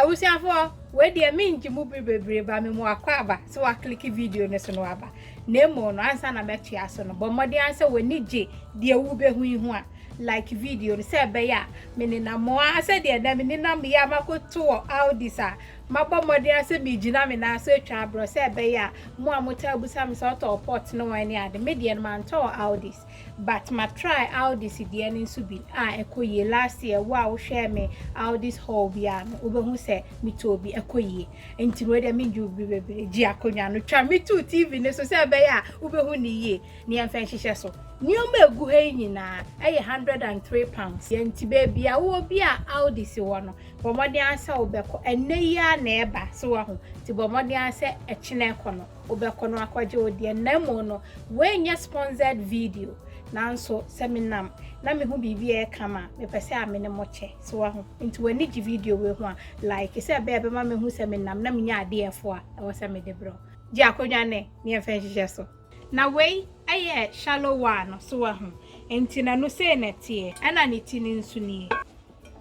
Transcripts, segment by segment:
abusuafoɔ wei deɛ mengye mu bere bebree ba me mu akɔ aba sɛ wakliki video no so no aba na mmom no ansa na mɛtoa so no bɔ mmɔden ara sɛ w'ani gye deɛ wobɛhu yi ho a like video no sɛ ɛbɛyɛ a menenam mo ara sɛdeɛ na menenam yɛ a makɔto wɔ aldis a mabɔ mmɔden ara sɛ megyina me nan so atwa aborɔ sɛ ɛbɛyɛ a mo a motaa busa me sɛ ɔtɔɔ pot ne wɔn ne ade me deɛ no mantɔ wɔ aldis but ma try Aldis deɛ no nso bi a ɛkɔ yie last year wo a wo hwɛɛ me Aldis haul bi a no wobɛhu sɛ me tɔɔ bi ɛkɔ yie nti wei deɛ me ndwo bi bebree gye akonnwa no twa me too TV no so sɛ ɛbɛyɛ a wobɛhu ne yie ne yɛmfa nhyehyɛ so nneɛma egu ha yi nyinaa ɛyɛ hundred and three pounds yɛn nti baabi a wowɔ bi a Aldis wɔ no bɔ mmɔden asɛ wobɛkɔ ɛnɛ yi a na ɛba so wɔ ho nti bɔ mmɔden asɛ ɛkyena ɛkɔ no wobɛkɔ no akɔgye wo deɛ na mmom no wei nyɛ sponsored video nanso sɛ menam na mehu biribi a ɛka ma mepɛ sɛ a me ne mo kyɛ so wahu nti w'ani gye video wei ho a like sɛ ɛbɛyɛ bɛma mehu sɛ menam na menya adeɛ ɛfo a ɛwɔ sɛ mede brɛ gye akonnwa ne ne yɛmfa nhyehyɛ so na wei ɛyɛ shallow one no so wahu nti na no sei na ɛteɛ ɛna ne ti no nso nie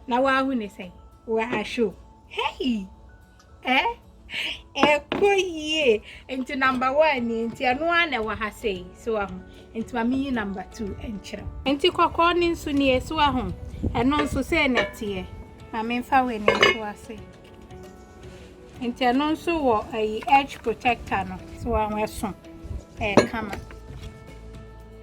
na wahu ne sɛn wahwɛ o hei Eh? Ɛkɔ yie. Nti number one ni nti ɛno ara na ɛwɔ ha sei. So ahu. Nti ma meyi number two nkyerɛ. Nti kɔkɔɔ ne nso nie so ahu. Ɛno nso sei na ɛteɛ. Ma memfa wei ne nso ase. Nti ɛno nso wɔ ayi edge protector no. So ahu ɛso. Ɛyɛ kama.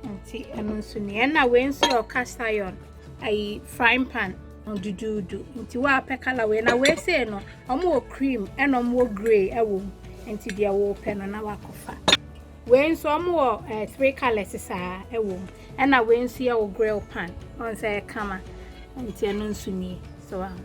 Nti ɛno nso nie. Ɛna wei nso yɛ ɔkasa yɔn. Ayi frying pan. duduudu nti woapɛ kala wei na wei sei no wɔn wɔ cream ɛna wɔn wɔ grey ɛwɔ mu nti deɛ wɔpɛ no na wakɔfa wei nso wɔn wɔ ɛɛ eh, three colours saa ɛwɔ mu ɛna wei nso yɛ wɔ grill pan wɔn sɛ ɛkama nti ɛno nso nie so wɔn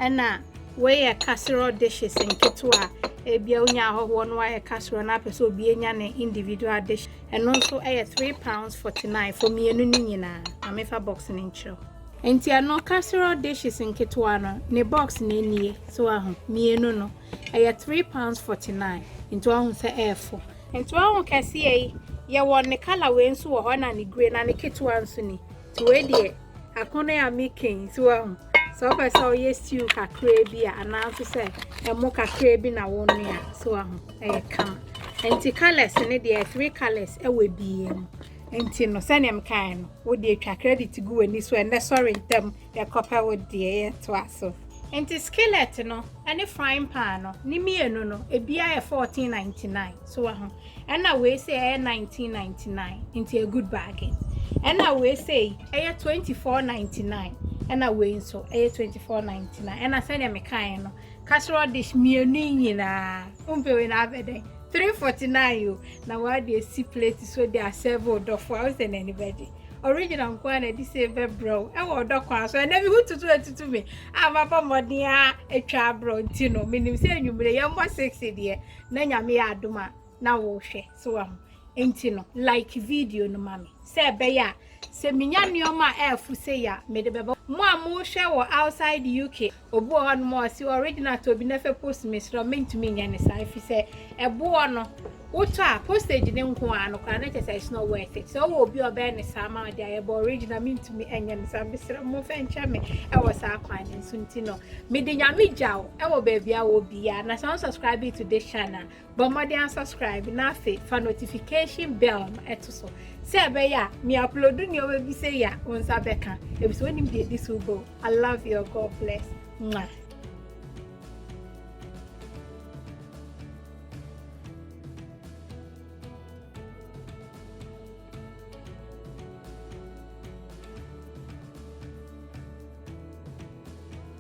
ɛna wei yɛ casserole dishes nketewa ebia onya ahɔhoɔ no ayɛ casserole na apɛ sɛ obi enya ne individual dish. Ɛno nso ɛyɛ three pounds forty nine for mmienu no nyinaa. Ma me fa box no nkyerɛ wo. Nti ɛno casserole dishes nketewa no ne box no nie. So wa ho? Mmienu no ɛyɛ three pounds forty nine. Nti wa ho sɛ ɛyɛ fo. Nti wa ho kɛseɛ yi, yɛ wɔ ne colour wei nso wɔ hɔ ɛna ne grey na ne ketewa nso ni. So wei deɛ akono a mekɛn nti wahu sɛ wopɛ sɛ ɔyɛ stew kakraa bi a anaa nso sɛ ɛmo kakraa bi na wɔnoa so wahu ɛyɛ kama nti colors ne deɛ three colors ɛwɔ bie mu nti no sɛnea mekae no wode atwa credit gu w'ani so ɛnɛ sɔre ntɛm yɛkɔpɛ wo deɛ yɛtoa so nti skillet no ɛne frying pan no ne mmienu no ebia yɛ 1499 so wahu Ɛna wei sei ɛyɛ 1999 nti a good bargain. Ɛna wei sei ɛyɛ 2499 ɛna wei nso ɛyɛ 2499 ɛna sɛdeɛ mekaeɛ no casserole dish mmienu yi nyinaa wompɛ wei na abɛ dɛn 349 o na wɔade asi plate so de asɛve ɔdɔfo a wosɛ n'ani bɛgye original nko a na ɛde sɛ bɛbrɛ wo ɛwɔ ɔdɔ kwan so ɛnɛ bi ho tutu atutu me a mabɔ mmɔden a atwa abrɛ nti no menim sɛ anwummere yɛmmɔ six deɛ na nyame yɛ adom a na wohwɛ so wahu nti no like video no ma me sɛ ɛbɛyɛ a sɛ menya nneɛma a ɛɛfo sɛ yɛ a mede bɛbɔ mo a mohwɛ wɔ outside UK obi wɔ hɔ no ma ɔsi original to obi na fɛ post mesrɛ mentumi nyɛ ne saa ɛfiri sɛ ɛboɔ no wotɔ a postage ne nko a no koraa ne kyɛ sɛ it's not worth it sɛ wowɔ obi a ɔbɛyɛ ne saa ma ɔde ayɛ bɔ original mentumi nyɛ ne saa mesrɛ mo fɛ nkyɛ me ɛwɔ saa kwan no nso nti no mede nyame gya o ɛwɔ baabi a wɔ biara na sɛ wɔn subscribe to this channel bɔ mmɔden asubscribe na afei fa notification bell no ɛto so sɛ ɛbɛyɛ a mi upload nneɛma bi sɛ yɛ a wɔn nsa bɛka ebi sɛ wɔnim deɛ edi so bɔ i love you god bless mwah.